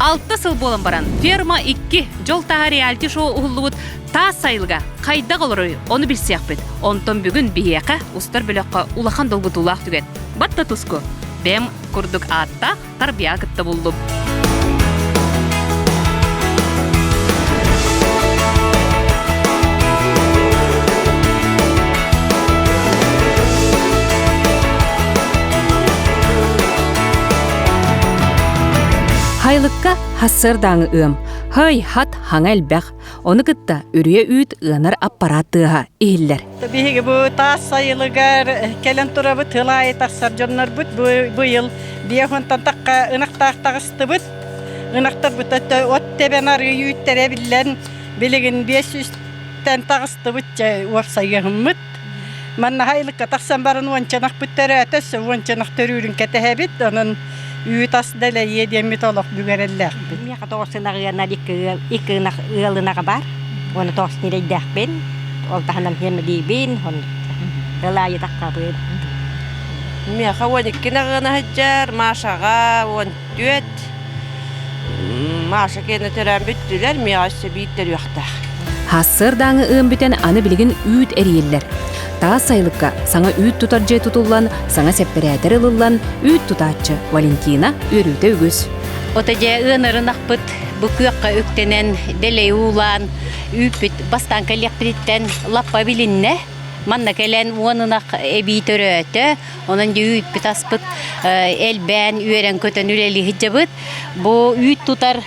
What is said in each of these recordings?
Алта сыл буолан баран ферма икки дьол таһа реалити шоу уһуллубут таас сайылга хайдах олоруй ону билсиэхпит онтон бүгүн биһиэхэ устар бөлөххө улахан долгутуулаах түгэн батта туску бэм курдук ааттаах тарбыйа кытта буллум Хайлыкка хассыырдааҥы ыам. Хай хат хаҥа элбэх. Ону кытта үрүйэ үүт ыанар аппарат тыаһа иһиллэр. Биһиги бу таас сайылыгар кэлэн турабыт тылаайы тахсар дьоннорбут бу yıl биэхонтан такка ынахтаах тахыстыбыт. Ынахтарбыт от тэбэн арыы үүттэрэ биллэн билигин 500-тэн тахыстыбыт уопсайыһыммыт. Маннаха ылыкка тахсан баран уончанах бүттөрөөтө, уончанах төрүүрүн кэтэһэбит, онон үүт ас дэлэйиэ диэммит олох бүгэрэллээхпит. Миэхэ тоҕус ынах ыанар икки икки ынах ыал ынаҕа бар. Уону тоҕус ньирэйдэхпин, ол таһынан хэмилиибин, ыл аайы таххабын. Миэхэ уон икки ынах ыана сылдьар, Машаҕа уон Түөт Маша кэнне төрөөн бүттүлэр, миэҕэ өссө бииттэрүөхтээх. Хассыардааҥы ыам бүтэн аны билигин үүт эрийиллэр. Таас сайылыкка саҥа үүт тутар дьиэ тутуллан, саҥа сэппэрээтэр ылыллан, үүт тутааччы Валентина үөрүүтэ үгүс. Ото дьэ ыанарын ахпыт бу күөххэ үктэнэн дэлэй уулаан үүппүт бастаан кэлиэхпититтэн лаппа билиннэ. Манна кэлэн уон ынах эбии төрөөтө, Онон дьэ үүппүт-аспыт элбээн, үөрэн-көтөн үлэлиһдьэбит. Бу үүт тутар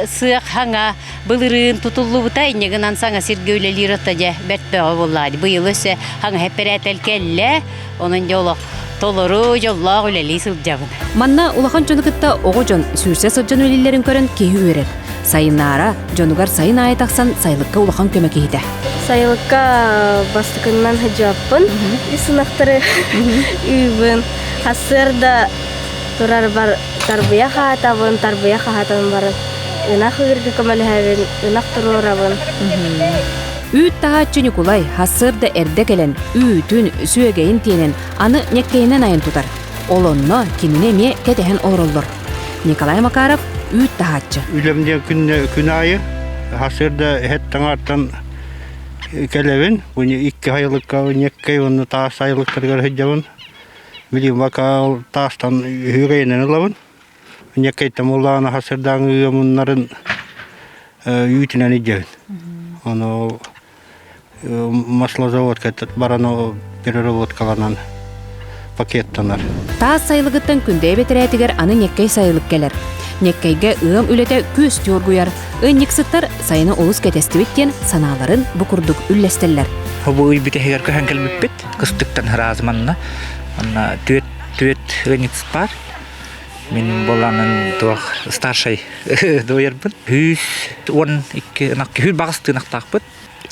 сыах хаҥа былырыын тутуллубута, инньэ гынан саҥа сиргэ үлэлиир отто дьэ бэртөөҕө буоллаҕа. Быйыл өссө хаҥа эппэрээтэл кэллэ. Онон дьэ олох толору дьоллоох үлэлии сылдьабын. Манна улахан дьону кытта оҕо дьон сүүрсэ сылдьан үлэлииллэрин көрөн киһи үөрэр. Сайынаара дьонугар сайын аайы тахсан сайылыкка улахан көмө киһитэ. Сайылыкка бастакыннан сыдьааппын, үс ынахтары үүбүн. Хасыарда турарбар тарбыйа хаатабын, тарбыйа хаатан баран ынах ыырга көмөлөһөбүн, ынах туруорабын. Үүт таһааччы Ньукулай хасыарда эрдэ кэлэн үүтүн, сүөгэйин тиэнэн аны ньэккэйинэн айан тутар. Олонно кинини эмиэ кэтэһэн олороллор. Николай Макаров үүт таһааччы. Үлэм диэн күннэ, күн аайы сарсыарда эһэт таҥаартан кэлэбин. Бу икки айылыкка, неккэй уонна таас айылыктарыгар сылдьабын. Били вокал таастан үһүрэйинэн ылабын. Неккэйтэн улаана сарсыардааҥы ыамуннарын үүтүнэн идьэбин. Ону маслозаводка баран переработкаланан пакеттанар. Таас сайылыгыттан күндэйэ бэтэрээтигэр аны ньэккэй сайылык кэлэр. Ньэккэйгэ ыам үлэтэ күөстүү оргуйар. Ынньыксыттар сайыны олус кэтэстибит диэн санааларын бу курдук үллэстэллэр. Бу ый бүтэһигэр көһөн кэлбиппит. Кыстыктан ыраазманна. Манна түөрт түөрт ынньыкс бар. Мин буланын туох старший дуйарбын үс уон икки ынах үһү баҕас тыынахтаахпыт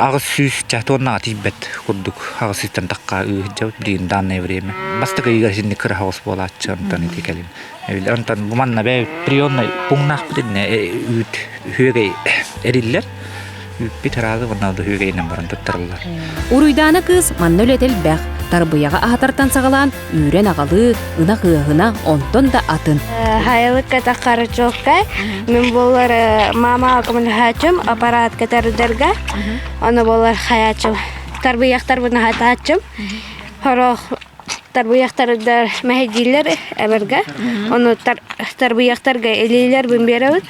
аҕыс сүүс ча туоннаҕа тиийбэт курдук аҕыс сүүстэн тахха ыыһдьабыт билигин данное время бастакы ыйга итинник кыра хоҕус буолааччы онтон ити кэлин эбиллэр онтон бу манна бэйэ приемнай пуҥнаахпыт иннэ үүт үһүөгэй эриллэр Үүппүт ыраагы ванналдыһыыга илинэн баран туттарыллар. Уруйдаана кыыс манна үлэтэ элбэх. Тарбыйаҕа аһатартан саҕалаан үүрэн аҕалыы, ынах ыаһына, онтон да атын. Хайылыкка тахарчокка мен болар мама коммунхачым аппаратка тардарга аны болар хаячым тарбыяктарбын хатачым хорох тарбыйахтардар мэһэйдииллэр эбэргэ ону тарбыйахтарга илиилэр бун биэрэбит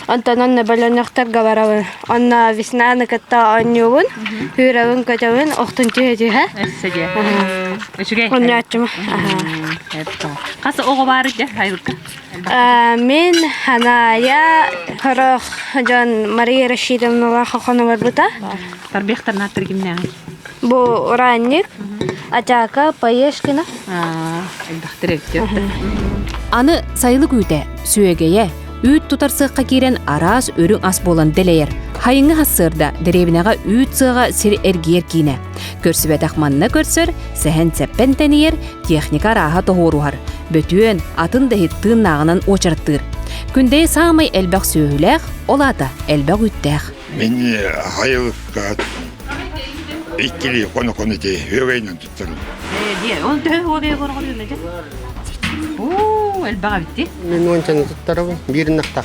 онтон онно бөлөнөхтөргө барабын онно веснаны кытта оонньуубун күүрэбин көтөбүн охтун түһэ түһэ үчүгэй онньооччум хас оҕо баар дэ айылга Мин Ханаайа сорох дьон Мария Рашидовналаах хохон олорбута. Тарбиахтарнаат тиргимнээҕи. Бу уранник, Атака, Поешкина. Элбэхтэр эктиөрдө. Аны сайылык үүтэ, сүөгэйэ, үүт тутар сыахха киирэн араас үрүҥ ас буолан дэлэйэр. Хайыңы хассыырда, дэриэбинэҕэ үүт сыаҕа сир эргийэр киинэ. Көрсүбэтэх манна көрсөр, Сэһэн-сэппэн тэнийэр, техника арааһа тоһуоруһар, бөтүөн, атын да иһит тыыннааҕынан уочараттыыр. Күндэйи саамай элбэх сүөһүлээх, ол аата элбэх үүттээх. Мин хайылыкка иккилии хоно-хоно дии үөгэйинэн туттарым. Диэ, он төһө үөгэй көргөрүөмэ дэ? Оо, элбэх эбитти. Мен ончаны туттарабын, биир нақтақ.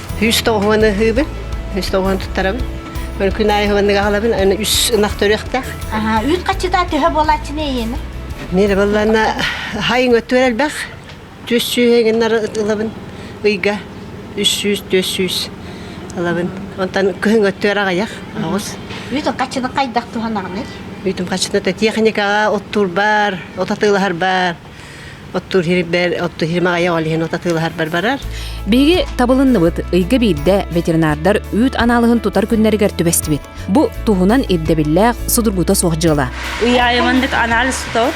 Үс тоҕуһуон ыһыыбын, үс тоҕуһуон туттарабын. Өр күн аайы ыһыаннык аһалабын, аны үс ынах төрүөхтээх. Аха, үүт хаччыта төһө буолааччыны эйиэми? Мире балланна хайың өттүгэр элбэх. Түс сүүс ылабын ыйга. Үс сүүс, түс сүүс ылабын. Онтон күһүн өттүгэр аҕайах, оҕус. Үүтүн хаччыны хайдах туһанаҕыный? Үүтүм хаччыны техникаҕа оттуурбар, отатыылаһарбар, Оттуур хирбэр, оттуур хирмэ айа олиһин ота тыылаһарбар барар. Биһиги табылынныбыт ыйга биирдэ ветеринардар үүт анаалыһын тутар күннэригэр түбэстибит. Бу туһунан ирдэбиллээх судургута суох дьыала. Уяйыман дик анализ тутор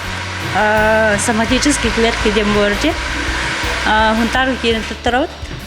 соматический клетки дем борде. Хунтар киирин туттарабыт.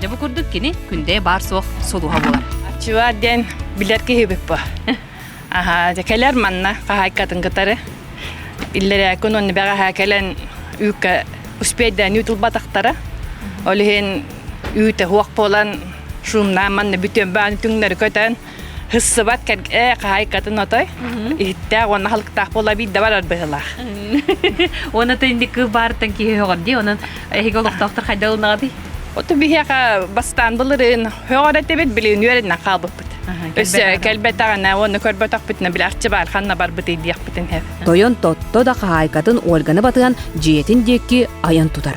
Дьэ бу курдук кини күндэйэ баар-суох солуһа буолар. Чыва диэн билэр киһибит бу. Аха, кэлэр манна хаһайкатын кытары. Иллэрээкүн онны бэҕэһэ кэлэн үүккэ успейдаан үүт улбатахтара. Ол иһин үүтэ хуох буолан шумнаан манна бүтүөн бааны түҥнэри көтөн Хыссыбат кэргэ хаһайкатын отой. Иһиттээх уонна халыктаах буола биирдэ барар быһылаах. Уонна тенник баартан киһи хоҕор ди, онон эһиги олохтоохтор хайда ылнаҕатый? Оту биһиэхэ бастаан былырын хөҕөрө тебит билин үөрэннен хаалбыппыт. Өссө кэлбетаҕына уонна көрбөтөхпүтүнэ билээхчи баар ханна барбыты диэхпитин хэп. Тойон тотто да хаһаайкатын Ольганы батыан дьиэтин диэки айан тутар.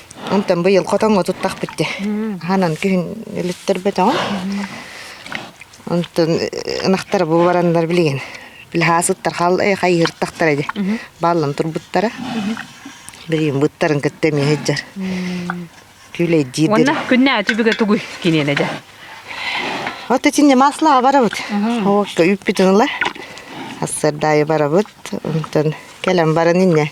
Онтон быйыл хотоҥҥо туттахпыт дии. Хаһанан күһүн өлүттэрбэтэҕим. Онтон ынахтара бу бараннар билигин лаһаасыттар халай хайыһыртахтара дии. Бааллан турбуттара. Билигин быттарын кытта эмиэ сылдьар. Күүлэйдиир Уонна күннээ түбүгэ тугуй киниэнэ дьэ? Вот итиннэ маслаҕа барабыт. Уокка үппүтүн ыла. Ассардаайы барабыт. Онтон кэлэн баран иннэ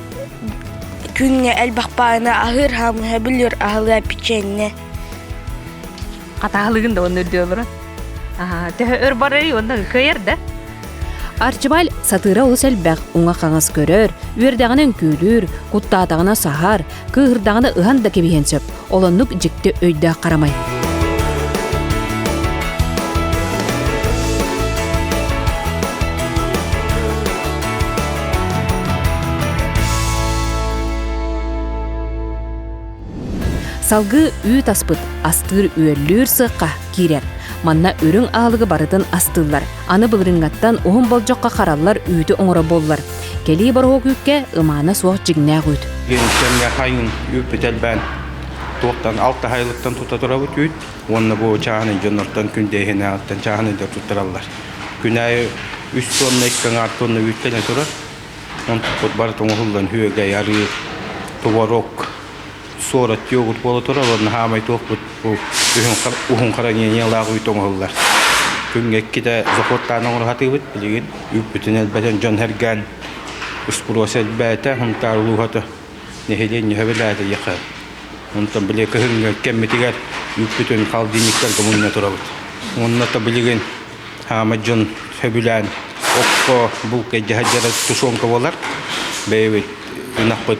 Күҥҥэ элбэх бааны аһыыр хаамыһа бүлүөр аһылыа печенье Хатаалыгын да оннур диэ олорон. Төһө өр барарый онно кыйар да. Арчыбал сатыыра олус элбэх уҥа-хаҥас көрөр, үөрдэҕинэ үҥкүүлүүр, куттаатаҕына саһар, кыыһырдаҕына ыһан да кэбиһиэн сөп. Олоннук дьикти өйдөөх харамай. Салгы үүт аспыт, астыыр-үөллүүр сыхха киирэр. Манна үрүҥ аалыгы барытын астыыллар. Аны былырыҥҥаттан уһун болдьоххо хараллар үүтү оҥоро буоллар. Кэлии бороһуок үүккэ ымаана суох дьиҥнээх үүт. Диэбит кэмҥэ хайыҥ үүппүт элбээн туохтан алта айылыктан тута турабыт үүт уонна бу чааһын дьоннортон күн дэйһэнээҕиттэн чааһын өйдөр туттараллар. Күн аайы үс туонна икки аҥаар туонна үүттэнэ турар. Онтукпут бары тоҥуһуллан, күөгэй, арыыр, туварок, суорат йогурт буола турар наһаамай туохпут бу уһун хараҥиниялаах үүт оҥоһуллар күнгэ иккитэ зохуоттаан оҥоруһатыыбыт билигин үүппүтүн элбэтэн дьон сэргээн успуруос элбээтэ хунтаар улууһата нэһилиэнньэ сөбүлээтэ еха онтон били кыһыҥҥы кэммитигэр үүппүтүн холодильниктарга мунньа турабыт уонна то билигин хаамай дьон сөбүлээн окко булка дьаһа тушенка буолар бэйэбит ынахпыт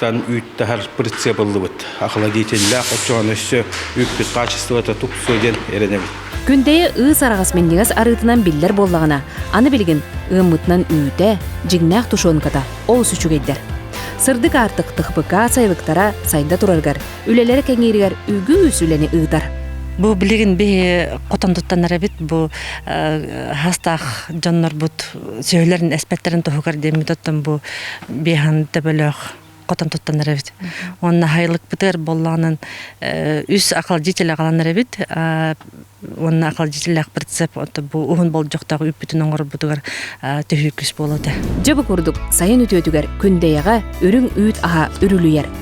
тан үүт-таһар прицепыллыбыт. Охладительлаах отчоҕон өссө үппүт хаачыстыбата тупсуо диэн эрэнэбин. Күндэйи ыыс араҕас минньигэс арыытынан биллэр буоллаҕына, аны билигин ыаммытынан үүтэ, дьиҥнээх тушенката олус үчүгэйдэр. Сырдык аартык ТХПК сайылыктара сайда турарыгар, үлэлэрэ кэҥииригэр үгүс үлэни ыытар. Бу билигин биһи хотон туттанар эбит бу хастаах дьоннорбут сүөһүлэрин эспэттэрин туһугар диэммит оттон бу биэхан төбөлөөх хотон туттанар эбит уонна хайылыкпытыар боллоҕунан үс акалдьитил агаланар эбит уонна акалдьитиллээх прицеп бу уһун болдьохтоох үппүтүн оҥорбутугар түһүү күүс буолуо этэ дьэ бу курдук сайын үтүөтүгэр күндэйэҕэ үрүҥ үүт аһа үрүлүйэр